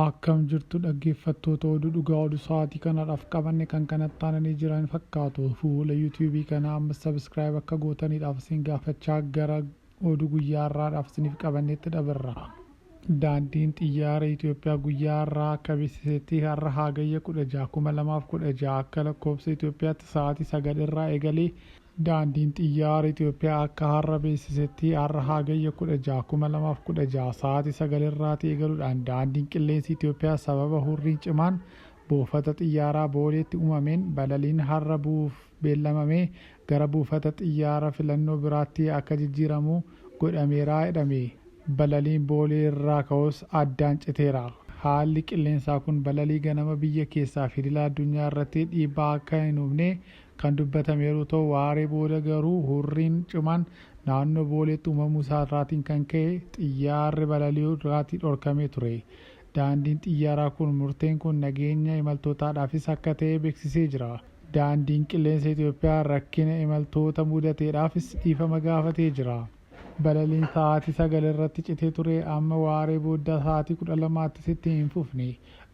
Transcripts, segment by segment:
Akkam jirtu dhaggeeffattoota oduu dhugaa oduu sa'aatii kanadhaaf qabanne kan kanatti taananii jiran fakkaatu. Fuula YouTube kanaa amma subscribe akka gootaniidhaaf isin gaafachaa gara Oduu guyyaa har'aadhaaf isiniif qabannetti dabarra. Daandiin Xiyyaara Itiyoophiyaa guyyaa har'aa akka beeksisetti har'a Hagayya 16, 2016 akka lakkoofsa Itiyoophiyaatti sa'aatii 9 irraa eegalee Daandiin Xiyyaara Itiyoophiyaa akka har'a beeksisetti har'a Hagayya 16, 2016 sa'aatii 9 irraatii eegaluudhaan Daandiin Qilleensi Itiyoophiyaa sababa hurriin cimaan buufata xiyyaaraa Booleetti uumameen balaliin har'a bu'uuf beellamame gara buufata xiyyaara filannoo biraatti akka jijjiiramu godhameera jedhame. Balaliin Boolee irraa ka'us addaan citeera. Haalli qilleensaa kun balalii ganama biyya keessaa fi idila addunyaa irratti dhiibbaa akka hin uumne kan dubbatame yeroo ta'u, waaree booda garuu hurriin cimaan naannoo Booleetti uumamuu isaa irraatiin kan ka'e xiyyaarri balali'uu irraatii dhorkamee ture. Daandiin xiyyaaraa kun murteen kun nageenya imaltootaadhaafis akka ta'e beeksisee jira. Daandiin Qilleensa Itoophiyaa rakkina imaltoota mudateedhaafis dhiifama gaafatee jira. Balaliin sa'aatii 9:00 irratti citee ture amma waaree booddaa sa'aatii 12:00ttis itti hin fufne.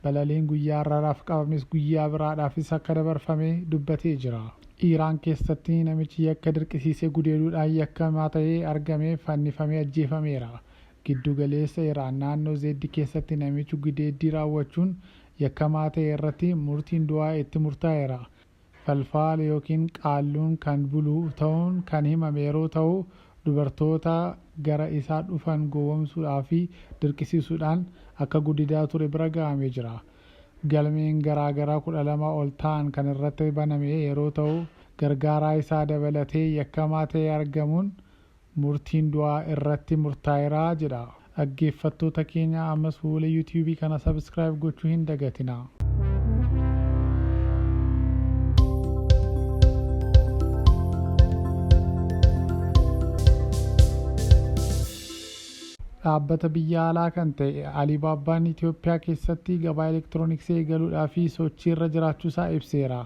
Balaliin guyyaa har'aadhaaf qabames guyyaa biraadhaafis akka dabarfame dubbatee jira. Iraan keessatti namichi yakka dirqisiisee gudeeduudhaan yakkamaa ta'ee argame fannifamee ajjeefameera. Giddu galeessa Iraan naannoo Zeeddi keessatti namichi gudeeddii raawwachuun yakkamaa ta'e irratti murtiin du'aa itti murtaa'eera. Falfaal ykn qaalluun kan bulu ta'uun kan himame yeroo ta'u, dubartoota gara isaa dhufan gowwomsuudhaa fi dirqisiisuudhaan akka guddidaa ture bira ga'amee jira. Galmeen garaa garaa 12 ol ta'an kan irratti baname yeroo ta'u, gargaaraa isaa dabalatee yakkamaa ta'ee argamuun Murtiin du'aa irratti murtaa'era jedha. Dhaggeeffattoota keenya ammas fuula youtube kana subscribe gochuu hin dagatinaa. Dhaabbata biyya alaa kan ta'e Alibaabbaan Itoophiyaa keessatti gabaa elektirooniksii eegaluudhaaf sochiirra jiraachuusaa ibseera.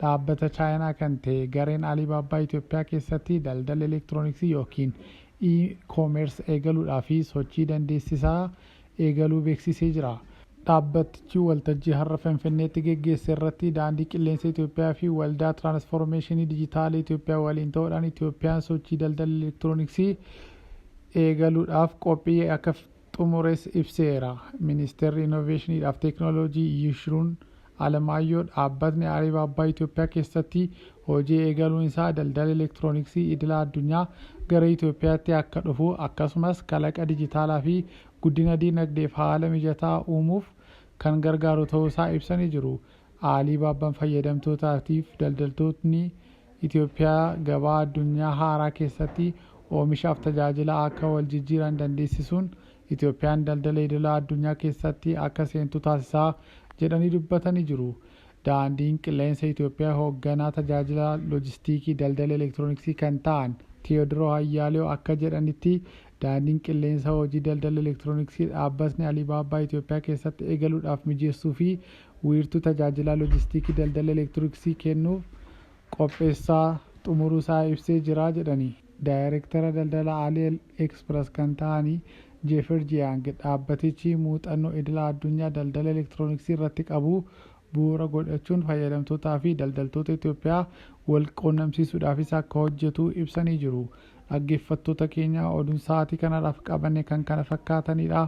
Dhaabbata Chaayinaa kan ta'e gareen Alibaba Itoophiyaa keessatti daldala elektirooniksii ykn E-commerce eegaluudhaaf sochii dandeessisaa eegaluu beeksisee jira. Dhaabbatichi waltajjii har'a Finfinneetti geggeesse irratti Daandii Qilleensa Itoophiyaa fi Waldaa Tiraanisfoormeeshinii Dijitaala Itoophiyaa waliin ta'uudhaan Itoophiyaan sochii daldala elektirooniksii eegaluudhaaf qophii akka xumures ibseera. Ministeerri Inooveeshiniidhaaf Teeknooloojii Yishruun Alamaayyoo dhaabbatni Alibaabbaa Itoophiyaa keessatti hojii eegaluun isaa daldala elektirooniksii idila addunyaa gara Itoophiyaatti akka dhufu akkasumas kalaqa dijitaalaa fi guddina diinagdeef haala mijataa uumuuf kan gargaaru ta'uusaa ibsanii jiru. Aaliibaabban fayyadamtootaatiif daldaltootni Itoophiyaa gabaa addunyaa haaraa keessatti oomishaaf tajaajila akka wal jijjiiran dandeessisuun Itoophiyaan daldala idila addunyaa keessatti akka seentu taasisaa jedhanii dubbatanii jiru. Daandiin Qilleensa Itoophiyaa Hoogganaa Tajaajila Loojistiikii Daldala Elektirooniksii kan ta'an Tewodiroo Hayyaalew akka jedhanitti Daandiin Qilleensa hojii daldala elektirooniksii dhaabbatni Aliibaabbaa Itoophiyaa keessatti eegaluudhaaf mijeessuu fi Wiirtuu Tajaajilaa Lojistiikii Daldala Elektirooksii kennuuf qopheessaa xumuruu isaa ibsee jira jedhani. Daayrektara Daldala Ali Express kan ta'ani Jeefer Jiyaang, dhaabbatichi muuxannoo idila addunyaa daldala elektirooniksii irratti qabu bu'uura godhachuun fayyadamtootaa fi daldaltoota Itoophiyaa wal quunnamsiisuudhaafis akka hojjetu ibsanii jiru. Dhaggeeffattoota keenya, oduun sa'aatii kanarraaf qabanne kan kana fakkaatanidha.